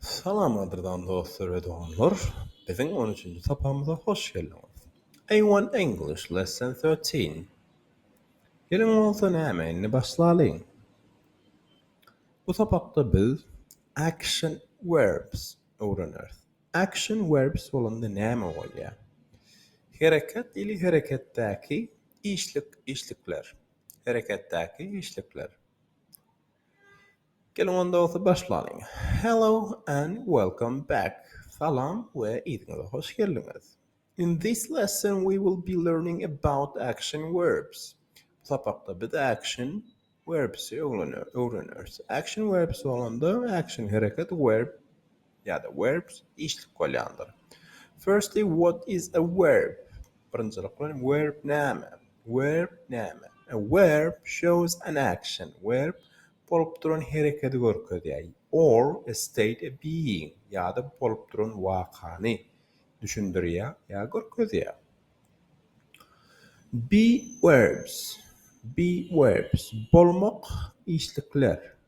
Salam gadyrdan dostlar we doganlar! Biziň on üçünji sapamyza hoş geldiňiz! A one English lesson thirteen Geliň bolsa näme indi başlalyň! Bu sapakda biz action verbs öwreneris. Action verbs bolanda näme bolýar? Hereket ili hereketdäki işlik işlikler. Hereketdäki işlikler. Geliň onda bolsa başlalyň. Hello and welcome back, Salam we yzyňyza hoş geldiňiz. In this lesson we will be learning about action verbs. Bu sapakda biz action verbs öwreneris. Action verbs bolanda action hereket verb ýa-da verbs işlik bolýandyr. Firstly, what is a verb? Birinjilik bilen verb näme? Verb näme? A verb shows an action. Verb bolup duran herekedi görkezýär, or a state a being ýa-da bolup duran wakany düşündirýär ýa görkezýär. Be verbs, be verbs bolmak işlikler.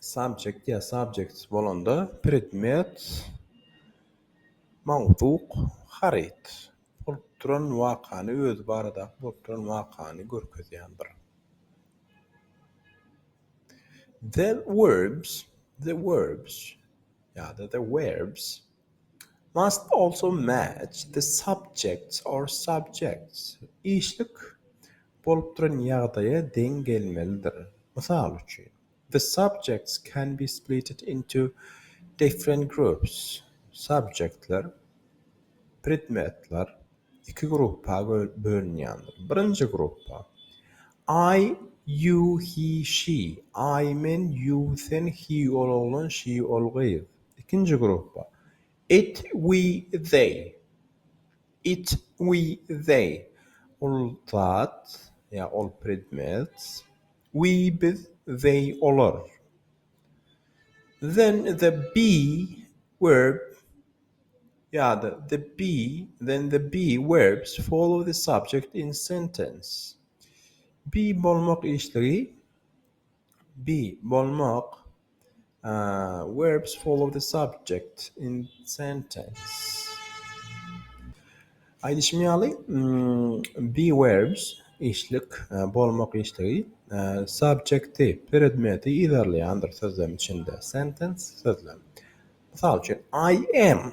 Subjekt ýa subjects bolanda predmet, mowzuk, haryt. Bolup duran wakany, özi baradaky bolup duran wakany görkezýän bir. The verbs, the verbs ýa-da the werbs. must also match the subject or subjects işlik bolup duran ýagdaýa deň gelmelidir, mysal üçin, The subjects can be splitted into different groups subjektler, predmetler, iki gruppa bölünýändir, birinji gruppa, I, you, he, she, I, men, you, sen, he, ol oglan, she, ol gyz. Ikinji gruppa, It, we, they. It, we, they. Ol, zat, ýa ol, predmet. We, biz, they, olar. Then, the, be, verb, ýa-da, the, be, then, the, be, verbs follow the subject in sentence. Be bolmak işligi. Bi, bolmak, Verbs follow the subject in sentence. Aýdyşym ýaly, be verbs, işlik, bolmak işligi, subjekti, predmeti, yzarlaýandyr sözlem içinde, sentence, sözlem. Mysal üçin, I am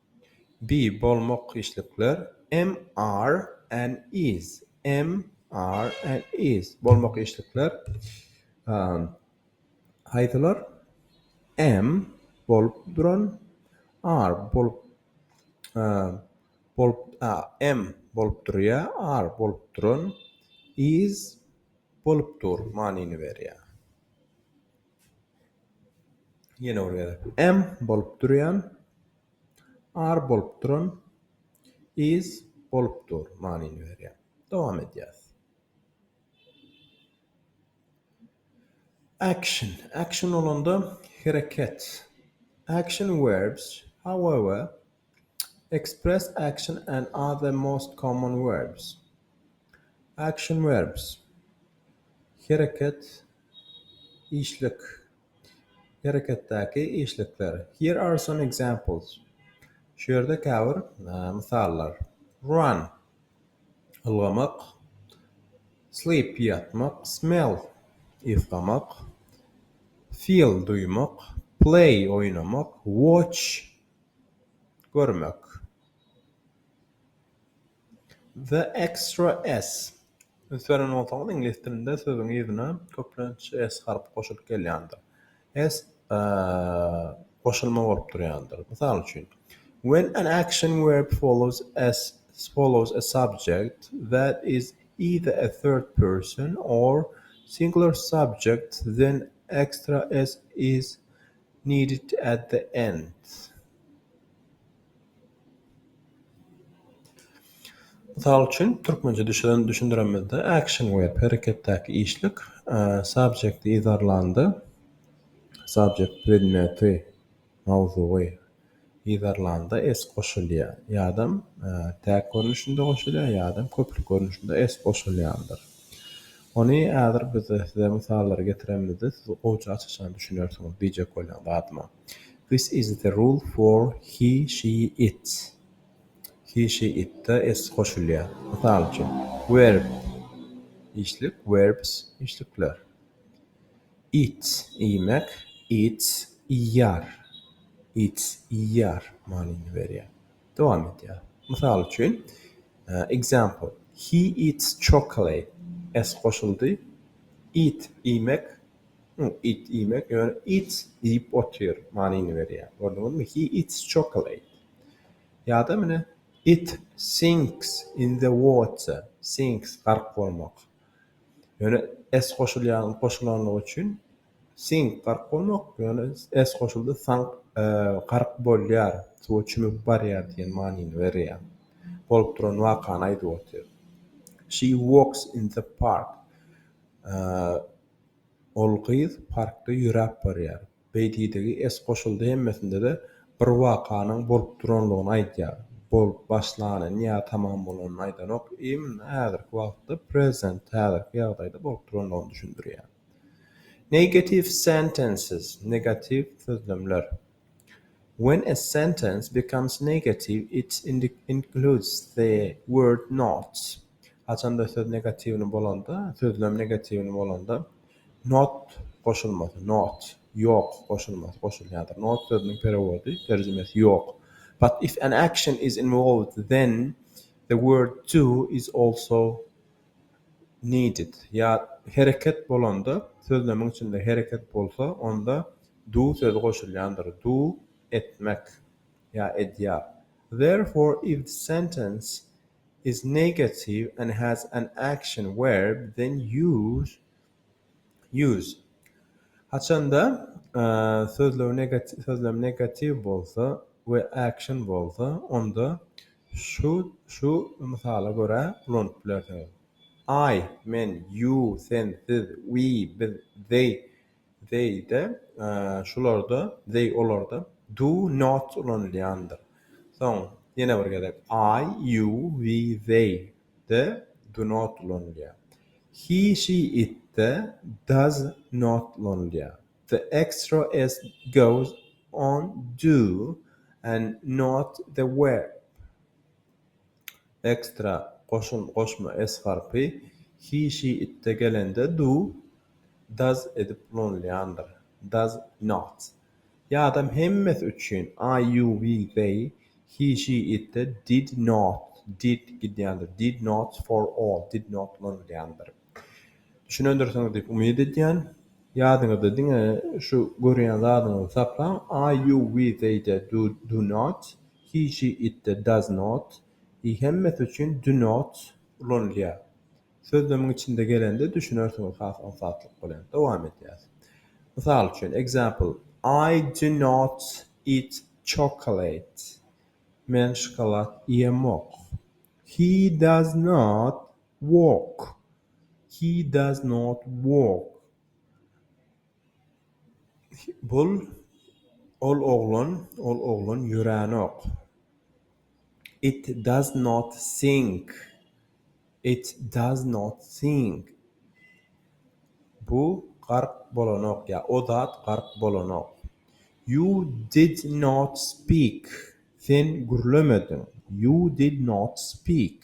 Be, bolmak, işlikler, Am, are, an, is, am, are, an, is, bolmak, işlikler, um, haýsylar, am, bolup duran, are, bolup, um, bolup, a, am, bolup durýar, are, bolup duran, is, bolup dur manyny berýär. Ýene bir gezek. Am bolup durýan. Are bolup duran. Is bolup dur manyny berýär. Dowam edýäs. Action. Action bolanda hereket. Action verbs, however, express action and are the most common verbs. Action verbs. Hereket. Işlik, hereketdäki işlikler. Here are some examples, Şu ýerde käbir mysallar. Run, ylgamak. Sleep, ýatmak. Smell, ysgamak. Feel, duýmak. Play, oýnamak. Watch, görmek. The extra s. Üns beren bolsaňyz, iňlis dilinde sözüň yzyna köplenç s harpy goşulyp gelýändir. S goşulma bolup durýandyr. Mysal üçin, When an action verb follows a follows a subject that is either a third person or singular subject then extra s is needed at the end. Mysal üçin, türkmençe düşüren düşündiremizde action verb, hereketdäki işlik, subject yzarlanda, subject predmeti, mawzugy, yzarlanda s goşulýar, ýadam täk görnüşinde goşulýar, ýadam köplük görnüşinde s goşulýandyr. Ony häzir biz size mysallary getiremizde siz gowja aç-açan düşünersiňiz diýjek bolýan zadyma. This is the rule for he, she, it. He, she, it-de s goşulýar. Mysal üçin, verb, işlik, verbs, işlikler. Eat, iýmek, eats, iýýär. Eats, iýýär manyny berýär. Dowam edýär. Mysal üçin, Example, He eats chocolate, s goşuldy. Eat, iýmek, It iýmek ýöne it iýip otyr manyny berýär. Gördüňizmi? He eats chocolate. Ýa-da mine It sinks in the water. Sinks, gark bolmak. Ýöne s goşulýan goşulandygy üçin sink, gark bolmak, ýöne s goşuldy sank, gark bolýar, suwa çümüp barýar diýen manyny berýär. Bolup duran wakany aýdyp otyr. She walks in the park. Ol gyz parkda ýöräp barýar. Beýdidigi es goşuldy hemmesinde-de bir wakanyň bolup duranlygyny aýdýar. Bolup başlanyny ýa tamam bolanyny aýdanok, imn häzirki wagtda present häzirki ýagdaýda bolup duranlygyny düşündirýär. Negative sentences negatiw sözlemler. When a sentence becomes negative it includes the word not. Haçanda söz negatiwini bolanda, sözlem negatiwini bolanda, not goşulmasy, not, ýok, goşulmasy goşulýardyr. Not sözüniň perewody, terjimesi, ýok. But if an action is involved then the word to is also needed. Ýa hereket bolanda, sözlemiň içinde hereket bolsa, onda Du sözi goşulýandyr, do, etmek, ýa edýär. Therefore, if the sentence is negative and has an action verb, then use use. Haçanda sözlem sözlem negatiw bolsa we action bolsa, onda şu şu mysala görä ulanyp bilersiňiz, I, men, you, sen, siz, we, biz, they, They-de, şularda, they olarda, do, not ulanylýandyr. Soň, ýene bir gezek, I, you, we, they, de, do not ulanylýar. He, she, it-de, does not ulanylýar. The extra s goes on do and not the verb. Ekstra, goşun, goşma, es harpy, hi, şi, itde gelende do, does edip ulanylýandyr. Does not. Ýadam hemmesi üçin I, you, we, they, hi, şi, itde did not, did gidýändir, did not for all, did not ulanylýandyr. Düşünendirsiňiz diýip umyt edýän. Ýadyňyzda diňe şu görýän zadyňyzy saklaň, I, you, we, they, de, do, do not, he, she, it, de, does not, i hemmesi üçin do not ulanylýar. Sözlemiň içinde gelende düşünersiňiz has aňsatlyk bilen. Dowam edýäs. Mysal üçin, example, I do not eat chocolate, men şokolad iýemok. He does not Walk. He does not walk. Bul, ol oglan, ol oglan ýöränok. It does not sing. It does not sing. Bu gark bolanok ýa o zat gark bolanok. You did not speak. Sen gürlemediň. You did not speak.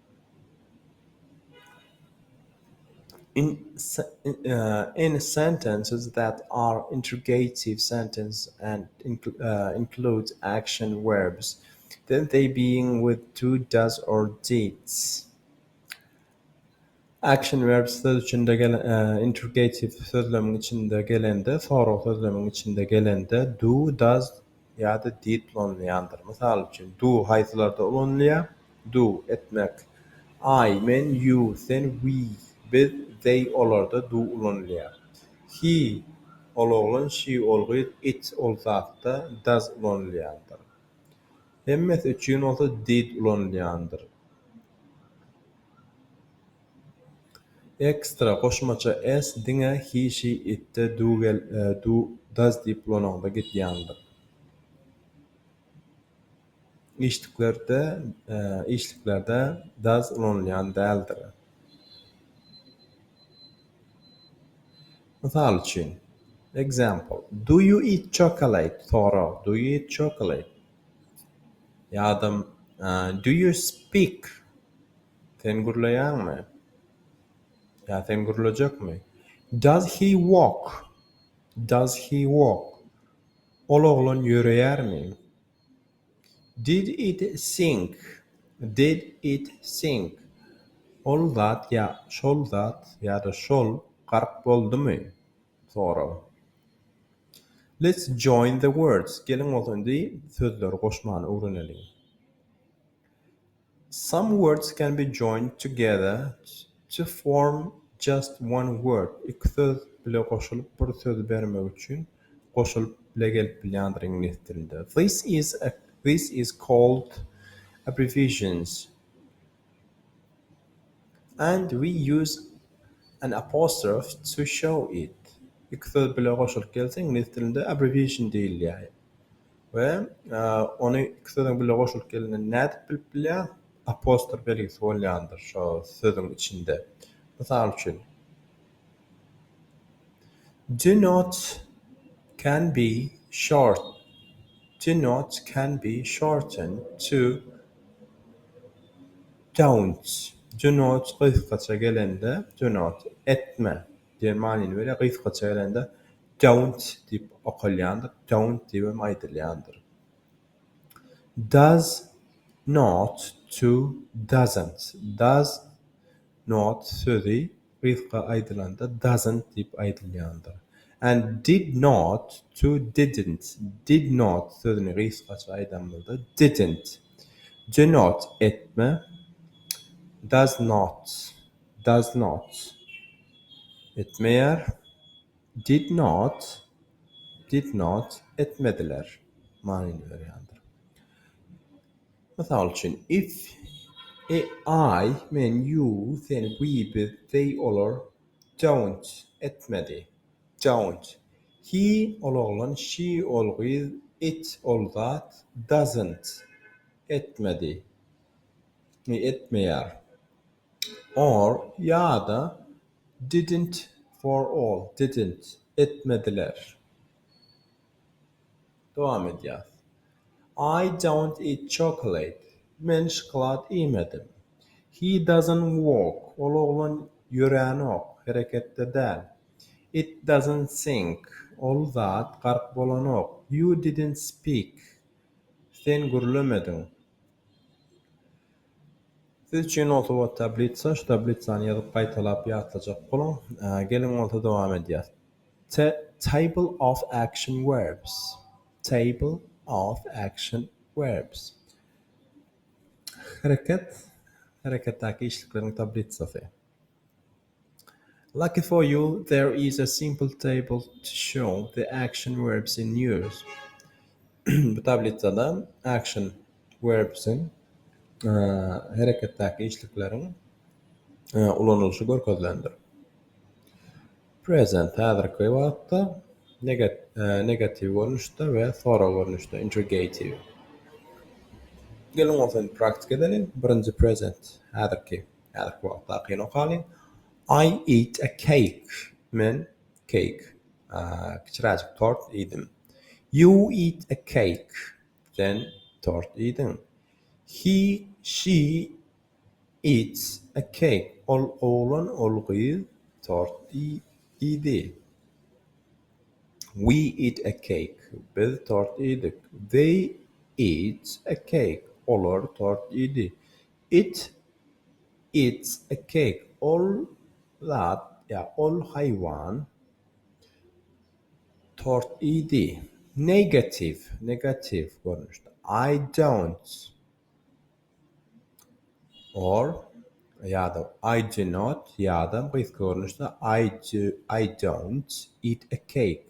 Any sentences that are interrogative sentences and include action verbs, then they begin with do, does, or did. Action verbs söz içinde gelen, interrogative sözlemiň içinde gelende, sorag sözlemiň içinde gelende, do, does, ýa-da diplomlaýandyr. Mysal üçin, do haýsylarda ulanylýar? Do, etmek. I, men, you, sen, we, biz, they, olarda do ulanylýar. He, ol oglan, she, ol gyz, it, ol zatda does ulanylýandyr. Hemmesi üçin bolsa did ulanylýandyr. Ekstra, goşmaça, s diňe he, she, it-de, do, gel, do, does diýip ulanyňda gidýändir. Işliklerde, işliklerde does ulanylýan däldir. Mysal üçin, Example, Do you eat chocolate? Sorag, Do you eat chocolate? Ýa-da Do you speak? Sen gürleýäňmi? Ýa sen gürlejekmi? Does he walk? Does he walk? Ol oglan ýöreýärmi? Did it sink? Did it sink? Ol zat ýa şol zat ýa-da şol gark boldumy? Sorag. Let's join the words. Geliň bolsa indi sözleri goşmany öwreneliň. Some words can be joined together to form just one word, iki söz bile goşulyp bir sözi bermek üçin goşulyp bile gelip bilýändir, iňlis dilinde. This is a this is called abbreviations and we use an apostrophe to show it, iki söz bile goşulyp gelse iňlis dilinde abbreviation diýilýär. we ony iki sözüň birle goşulyp gelenini nädip bilip bilýäň? Apostrof belgisi bolýandyr şo sözüň içinde. Mysal üçin, Do not can be short do not can be shortened to don't. Do not gysgaça gelende do not etme diýen manyny berýär, gysgaça gelende Don't diýip okalýandyr, Dont diýip hem aýdylýandyr. Does not to doesn't. Does not sözi gysga aýdylanda doesn't diýip aýdylýandyr. And did not to didn't. Did not sözüni gysgaça aýdanymyzda didn't. Do not etme, does not, does not etmeýär. Did not, did not, etmediler, manyny berýändir. Mysal üçin, it, e, I, men, you, sen, we, biz, they, olar, don't, etmedi, don't, he, ol oglan, she, ol gyz, it, ol zat, doesn't, etmedi, etmeýär. Or ýa-da didn't for all, didn't, etmediler. Dowam edýäs. I don't eat chocolate, men şokolad iýmedim. He doesn't walk, ol oglan ýöränok, hereketde däl. It doesn't sink, ol zat gark bolanok. You didn't speak, sen gürlemediň. Siz üçin bolsa bu tablitsa, şu tablitsany ýazyp gaýtalap ýatlajak boluň. Geliň bolsa dowam edýäs. Ta table of action verbs. Table of action verbs. Hereket, hereketdäki işlikleriň tablitsasy. Lucky for you, there is a simple table to show the action verbs in use. Bu tablitsada action verbs-iň, hereketdäki işlikleriň, ulanylyşy görkezilendir. Present, häzirki wagtda, negatiw görnüşde we sorag görnüşde, interrogative. Geliň, ol sany praktik edeliň. Birinji, present, häzirki. Häzirki wagtda kino kaly I eat a cake, men cake, kiçiräjik tort, iýdim. You eat a cake, sen tort iýdiň. He, she, eats a cake, ol oglan, ol gyz tort iýdi. We eat a cake, biz tort iýdik. They eat a cake, olar tort iýdi. It eats a cake, ol zat ýa ol haýwan tort iýdi. Negatiw, negatiw görnüşde. I don't or ýa-da I do not ýa-da gysga görnüşde I do, I don't eat a cake.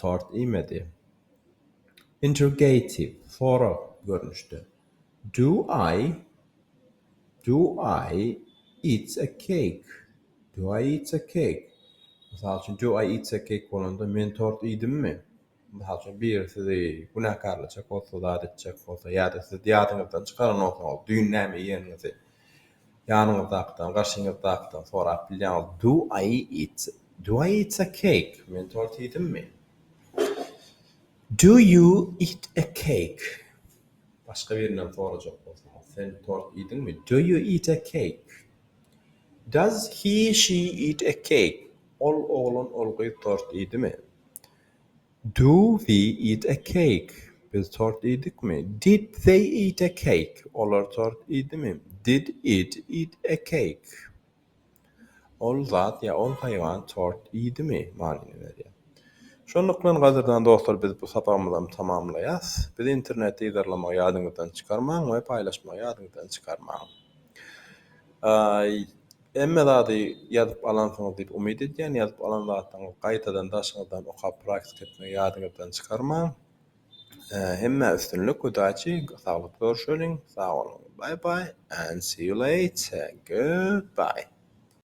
tort iýmedi. Interrogative, sorag görnüşde. Do I Do I eats a cake? Do I eats a cake? Mysal üçin, Do I eats a cake bolanda, men tort iýdimmi? Mysal üçin, biri sizi günäkärlejek bolsa, zat etjek bolsa ýa-da siz ýadyňyzdan çykaran bolsaňyz, düýn näme iýeniňizi, Ýanyňyzdakydan, garşyňyzdakydan sorap bilýäňiz, Do I eat, do I eat a cake? Men tort iýdimmi? Do you eat a cake? Başga birinden sorajak bolsaňyz, sen tort iýdiňmi? Do you eat a cake? Does he, she eat a cake? Ol oglan, ol gyz tort iýdimi? Do we eat a cake? Biz tort iýdikmi? Did they eat a cake? Olar tort iýdimi? Did it eat a cake? Ol zat ýa ol haýwan tort iýdimi? manyny berýär. Şonluk bilen, gadyrdan dostlar, biz bu sapagymyzam tamamlaýas. Bizi internetde yzarlamagy ýadyňyzdan çykarmaň we paýlaşmagy ýadyňyzdan çykarmaň. Hemme zady ýazyp alansyňyz diýip umyt edýän, ýazyp alan zatlaryňyzy gaýtadan daşyňyzdan okap praktika etmegi ýadyňyzdan çykarmaň. Hemmä üstünlik udaçi saglykda görüşeliň sag boluň bye bye and see you later goodbye.